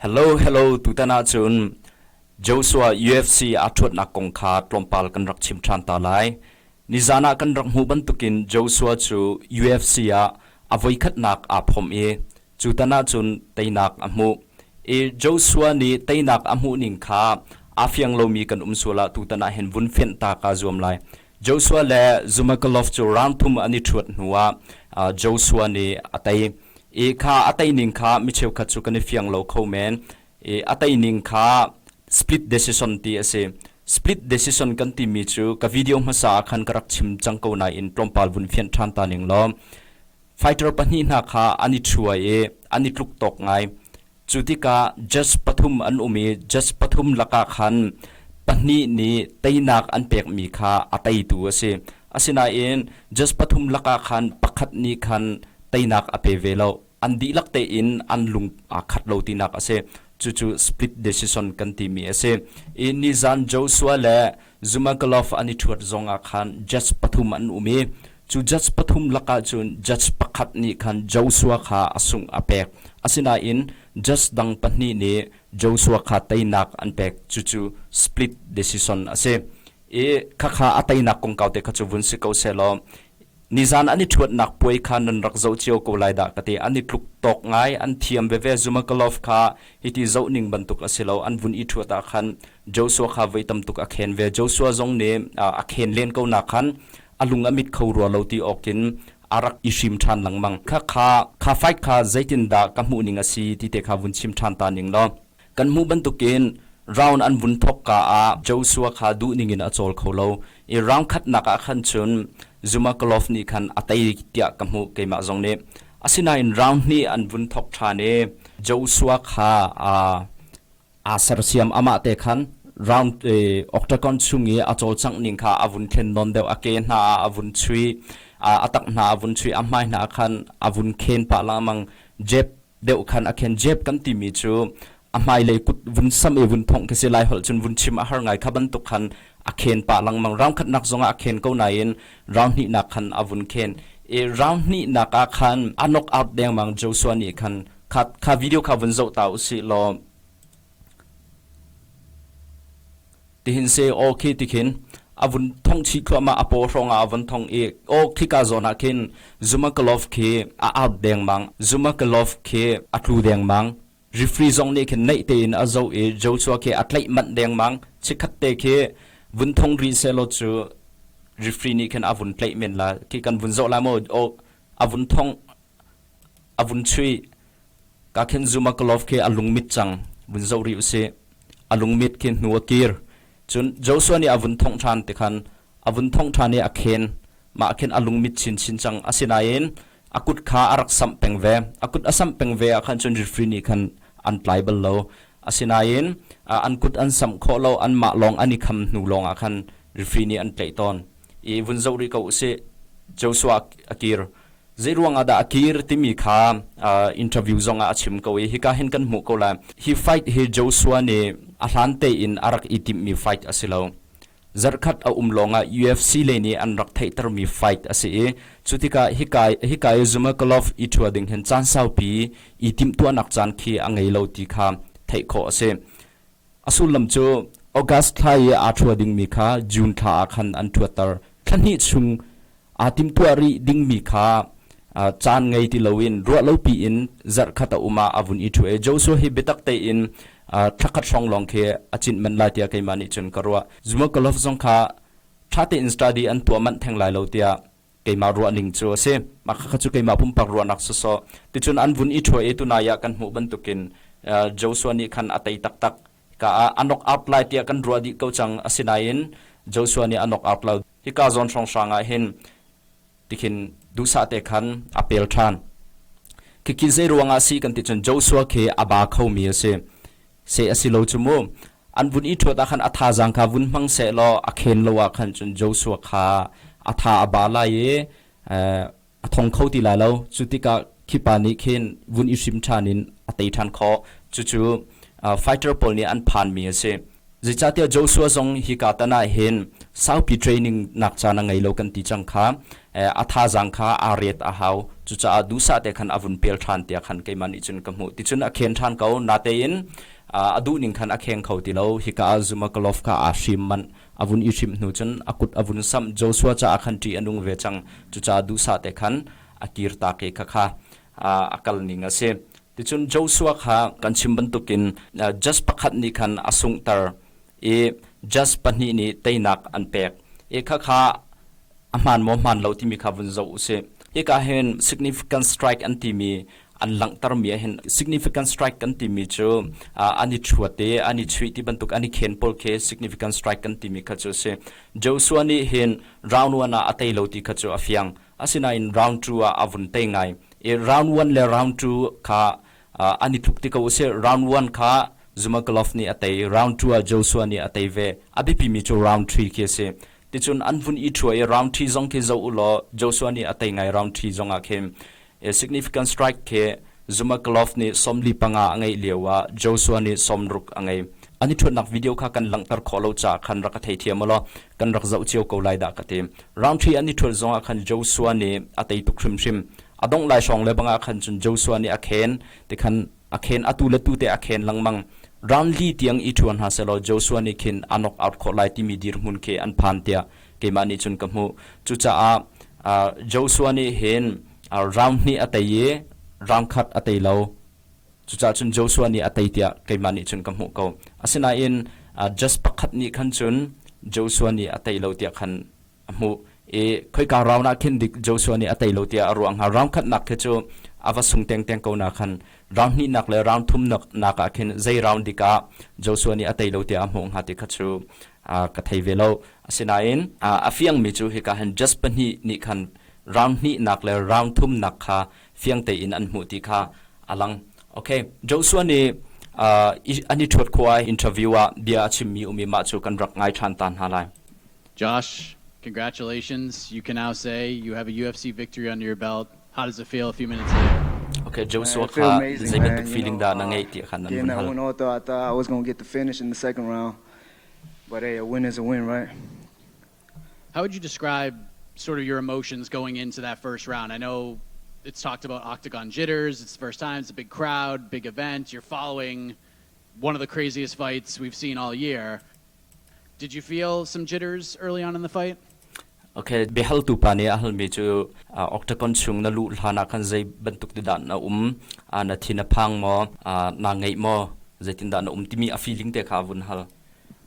Hello, hello, tutan ah cun Joshua UFC aa ṭhuatnak kong kha tlawmpal kan rak chim ṭhan ta lai. Nizan ah kan rak hmuh bantukin Joshua cu UFC ah a voikhatnak aa phomh i cutan ah cun teinak a hmuh. I Joshua nih teinak a hmuh ning kha aa fiang lomi kan um sual ah tutan ah hin vun fenh ta kaa zuam lai. Joshua le Zumagalof cu rang thum an i ṭhuat hnuah Joshua nih a tei i kha a teining kha mi cheukhat cu kan i fiang lo kho men i a teining kha split decision ti a si. Split decision kan timi cu ka video hmasa ah khan ka rak chim cang ko nain tlawmpal vun fianh ṭhan ta ning law Fighter pahnih hna kha an i thuai i an i tluk tawk ngai. Cu tikah jas pathum an um i jas pathum lakah khan pahnih nih teinak an pekmi kha a teitu a si. Asinain jas pathum lakah khan pakhat nih khan teinak a pe ve lo. An dihlak tein an lung aa khat lo tinak a si. Cucu split decision kan timi a si. I nizan Joshua le Zumaglof an i ṭhuat zongah khan judge pathum an um i cu judge pathum lakah cun judge pakhat nih khan Joshua kha a sungh a pek, asinain judge dang pahnih nih Joshua kha teinak an pek, cucu split decision a si i khakha a teinak kongkau te kha cu vun si ko seh law Nizan an i ṭhuatnak puai kha nan rak zoh cio ko lai dah ka ti. An i tluk tawk ngai, an thiam veve. Zumagulov kha hiti zoh ning bantuk a si lo. An vun i ṭhuat ah khan Joshua kha voi tam tuk a khen ve. Joshua zong nih a khen len ko nak khan a lung a mit kho rua lo ti awk in a rak i hrim ṭhan lengmang. Khakha, kha fight kha zeitindah ka hmuh ning a si ti te kha vun chim ṭhan ta ning law, Kan hmuh bantukin round an vun thawkka ah Joshua kha duh ningin a cawl kho lo i round khatnak ah khan cun Zumaglof nih khan a tei tiah ka hmuh, keimah zong nih. Asinain round hnih an vun thawk ṭhan i Joshua kha aa sersiam, amah te khan round octagon chung i a cawlcangh ning kha a vun khen nawn deuh, a ke hna ah a vun chuih, a tak hna a vun chuih, a hmai hna khan a vun khen pah lengmang. Jeb deuh khan a khen jep kan timi cu a hmailei kut vun sam i vun phongh khi si lai holh cun vun chim a har ngai kha bantuk khan a khen pah lengmang rang khatnak zongah a khen ko nain rang hnihnak khan a vun khen i rang hnihnak ah khan a nok out dengmang Joshua nih khan kha, kha video kha vun zoh ta u sih law Tihin se aw khi ti khin a vun thong chih thluahmah a paw hrongah a von thong i aw khika zawn ah khin Zumakalov khi a out dengmang Zumakalov khi a tlu dengmang rifri zong nih khin neih tein a zoh i Joshua khi a tlaih manh dengmang chikkhat te khi vun thong rih sehlaw cu rifri nih khin a vun tlaih men la khi kan vun zoh la maw aw a vun thong a vun chuih ka khin zuma glove khi a lungmit cang vun zoh rih usih a lungmit khi hnu a kir cun Joshua nih a vun thongh ṭhan ti khan a vun thongh ṭhan i a khen mah khin a lungmit chinchin cang asinain a kut kha a rak samh peng ve a kut a samh peng ve ah khan cun refri nih khan an tlai bal lo asinain an kut an samh khawh lo an mah lawng an i kham hnu lawng ah khan refri nih an tlaih tawn i vun zoh rih ko usih Joshua a kir Zeiruang ah dah a kir timi kha interview zong ah a chim ko i hika hin kan hmuh ko lai. Hi fight hi Joshua nih a hlan tein a rak i timhmi fight a si lo. Zarhkhat a um lawng ah UFC lei nih an rak theihtermi fight a si i cu tikah hika, hika i Zhumerkalov i ṭhua ding hin caan saupi i timhtuahnak caan khi a ngei lo ti kha theih khawh a si. A sullam cu August thla i aa ṭhua dingmi kha June thla ah khan an ṭhuatter. Thla hnih chung aa timtuah rih dingmi kha caan ngei ti loin ruahlopi in zarhkhat a um ah a vun i ṭhu i Joshua hi biatak tein thlakhat hrawng lawng khi a cinh manh lai tiah keimah nih cun ka ruah. Zumhawkalof zong kha ṭha tein study an tuah manh theng lai lo tiah keimah ruah ning cu a si. Mah khakha cu keimah pumpak ruahnak sawsawh. Ticun an vun i ṭhua i tunai ah kan hmuh bantukin Joshua nih khan a tei taktak. Ka ah a nok out lai tiah kan ruah dih ko cang, asinain Joshua nih a nok out lo. Hika zawn hrawnghrang ah hin tikhin duhsah te khan a pel ṭhan. Khikhi zeiruangah a si kan ti cun Joshua khi a ba khomi a si. se a si lo cu mu. An vun i ṭhuat ah khan a thazaang kha vun hmang seh law a khen lo ah khan cun Joshua kha a tha a ba lai i a thong kho ti lai lo. Cu tikah khipa nih khin vun i hrim ṭhan in a tei ṭhan khawh. Cucu fighter pawl nih an phanmi a si. Zeicahtiah Joshua zong hika tan ah hin saupi training nak caan a ngei lo kan ti cang kha a thazaang kha aa riat a hau. Cucaah duhsah te khan a vun pel ṭhan tiah khan keimah nih cun ka hmuh. Ticun a khen ṭhan ko, natein a duh ning khan a kheng kho ti lo. Hika ah Zumagolov kha aa hrim manh. A vun i hrim hnu cun a kut a vun samh. Joshua caah khan ṭih a nung ve cang. Cucaah duhsah te khan a kir tak i khakha a kal ning a si. Ticun Joshua kha kan chim bantukin jas pakhat nih khan a sunghter i jas pahnih nih teinak an pek i khakha a hmaan maw hmaan lo timi kha vun zoh u sih hika hin significant strike an timi an langhtermi ahhin significant strike kan timi cu an i chuat i an i chuih ti bantuk an i khen pawl khi significant strike kan timi kha cu a si Joshua nih hin round one ah a tei lo ti kha cu a fiang asinain round two ah a vun tei ngai i round one le round two kha an i tluk ti ko usih. Round one kha Zumagulov nih a tei, round two ah Joshua nih a tei ve. A biapimi cu round three khi a si. Ticun an vun i ṭhua i round three zong khi zoh u law Joshua nih a tei ngai round three zong ah khin. Significant strike khi Zumagulov nih sawm li panga a ngeih lio ah Joshua nih sawm ruk a ngei. An i ṭhuatnak video kha kan langhter khawh lo caah khan rak ka theithiam u law kan rak zoh cio ko lai dah ka ti. Rangṭhi an i ṭhulh zongah khan Joshua nih a tei tuk hrimhrim. A dongh lai hrawng le bangah khan cun Joshua nih a khen, tikhan a khen, atu le tute a khen lengmang. Ran li tiang i ṭhu hna sehlaw Joshua nih khin a nok out khawh lai timi dirhmun khi an phan tiah keimah nih cun ka hmuh. Cucaah Joshua nih hin rang hnih a tei i rang khat a tei lo. Cucaah cun Joshua nih a tei tiah keimah nih cun ka hmuh ko. Asinain just pakhat nih khan cun Joshua nih a tei lo tiah khan a hmuh i khoika round ah khin dik Joshua nih a tei lo tiah a ruah hnga. Round khatnak khi cu a va sung tengteng ko nak khan round hnihnak le round thumnak ah khin zei round dik ah Joshua nih a tei lo tiah a hmuh hnga ti kha cu ka thei ve lo. Asinain a fiangmi cu hika hin just pahnih nih khan round hnihnak le round thumnak kha fiang tein an hmuh ti kha a lang. Okay, Joshua nih uh, an i ṭhuat khua interview ah bia a chimmi um i mah cu kan rak ngai ṭhan ta hna lai. Josh, congratulations. You can now say you have a UFC victory under your belt. How does it feel a few minutes later? Okay, Joshua kha zeibantuk feeling dah na ngeih ti kha nan hun hal. I thought I was going to get the finish in the second round. But hey, a win is a win, right? How would you describe sort of your emotions going into that first round? I know it's talked about octagon jitters. It's the first time. It's a big crowd, big event. You're following one of the craziest fights we've seen all year. Did you feel some jitters early on in the fight? Okay, biahaltu pa nih a halmi cu octagon chung na luh hlan ah khan zei bantuk ti dan na um na thin a phang maw na ngeih maw zeitin dah na um timi a feeling te kha vun hal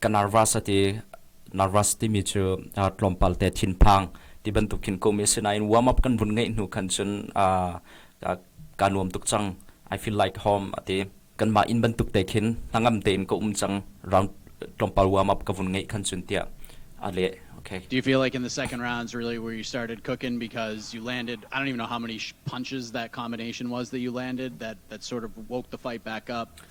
ka nervous ati nervous timi cu uh, tlawmpal te thinphang ti bantuk khin komi asinain warm up kan vun ngeih hnu khan cun uh, uh, ka nuam tuk cang i feel like home ati kanmah in bantuk te khin hnangam tein ka um cang round tlawmpal warm up ka vun ngeih khan cun tia ale okay do you feel like in the second rounds really where you started cooking because you landed i don't even know how many punches that combination was that you landed that that sort of woke the fight back up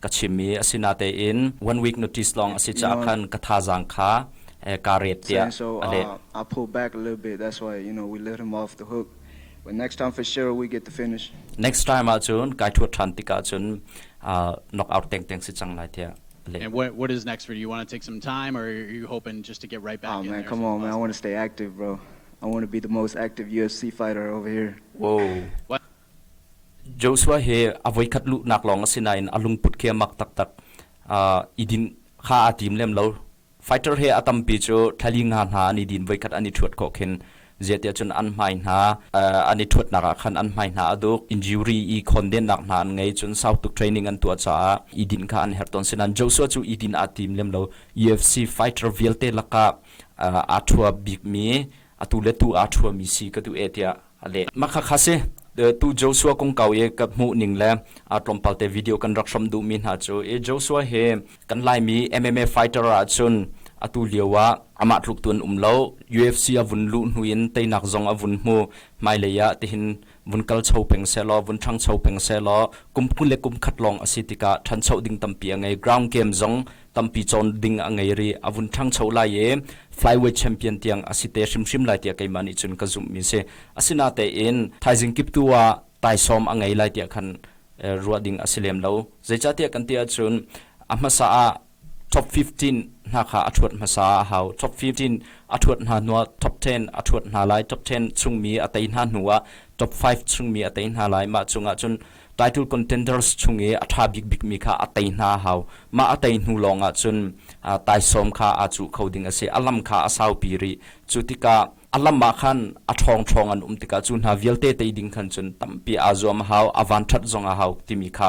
ka chim i a si natein one week notice lawng a si caah khan ka thazaang kha kaa rep tiah a leh. Uh, I pull back a little bit. That's why you know we let him off the hook. But next time for sure we get the finish. Next time ah cun kai thuat than tikah cun uh, knock out teng teng si cang lai tiah And what, what is next for you? You want to take some time, or are you hoping just to get right back? Oh in man, there? come on, man! I want to stay active, bro. I want to be the most active UFC fighter over here. Whoa! What? Joshua hi a voikhat luhnak lawng a si nain a lungput kiamak taktak i din kha aa tim lem lo. Fighter he a tampi cu thlali nga hna an i din voikhat an i ṭhuat khawh khin zeitiah cun an hmai hna an i ṭhuatnak ah khan an hmai hna a duk, injury i khawndennak hna an ngei, cun sau tuk training an tuah caah i din kha an herh tawn. Sinain Joshua cu i din aa tim lem lo. UFC fighter vialte lakah aa ṭhua bikmi, atu le tu aa ṭhuami si ka duh e tiah A leh ma khakha si. Tu Joshua kongkau i ka hmuhning le tlawmpal te video kan rak hram duhmi hna cu i Joshua hi kan Laimi MMA fighter ahcun atu lio ah amah tluk tu an um lo. UFC a vun luh hnu in teinak zong a vun hmu hmailei ah tihin vun kal cho peng sehlaw vun ṭhangcho peng sehlaw kum kul le kum khat lawng a si tikah ṭhancho ding tampi a ngei. Ground game zong tampi cawn ding a ngei rih. A vun ṭhangcho lai i flyweight champion tiang a si te hrimhrim lai tiah keimah nih cun ka zumhmi a si. Asinatein thaizing kip tu ah taisawm a ngei lai tiah khan ruah ding a si lem lo. Zeicahtiah kan ti ahcun a hmasa ah top fifteen hna kha a ṭhuat hmasa ah a hau. Top fifteen a ṭhuat hna hnuah top ten a ṭhuat hna lai. Top ten chungmi a tei hna hnuah top five chungmi a tei hna lai. Mah cungah cun title contenders chung i a ṭha bikbikmi kha a tei hna a hau. Mah a tei hnu lawngah cun taisawm kha aa cuh kho ding a si. A lam kha a saupi rih. Cu tikah a lam ah khan a ṭhawngṭhawng an um tikah cu hna vialte tei ding khan cun tampi aa zuam a hau, a vanṭhat zong a hau timi kha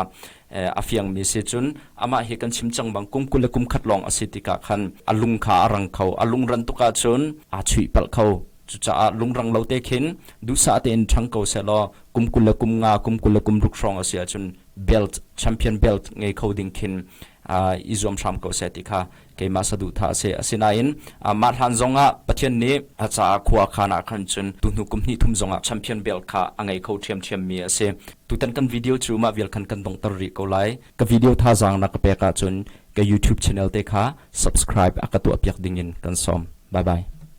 a fiangmi a si. Cun amah hi kan chim cang bang kum kul le kum khat lawng a si tikah khan a lung kha a rang kho. A lung ranh tuk ahcun aa chuihpalh kho. Cucaah lungrang lo te khin duhsah tein ṭhang ko seh law kum kul le kum nga, kum kul le kum ruk hrawng a si ahcun belt, champion belt ngei kho ding khin i zuam hram ko seh ti kha keimah saduhthah a si. Asinain mah hlan zongah Pathian nih a caah khua khan ah khan cun tuhnu kum hnih thum zongah champion belt kha a ngei kho ṭhiamṭhiam mi a si. Tutan kan video cu mah vial khan kan donghter rih ko lai. Ka video thazaang na ka pek ahcun ka YouTube channel te kha subscribe a ka tuahpiak dingin kan sawm. Bye bye.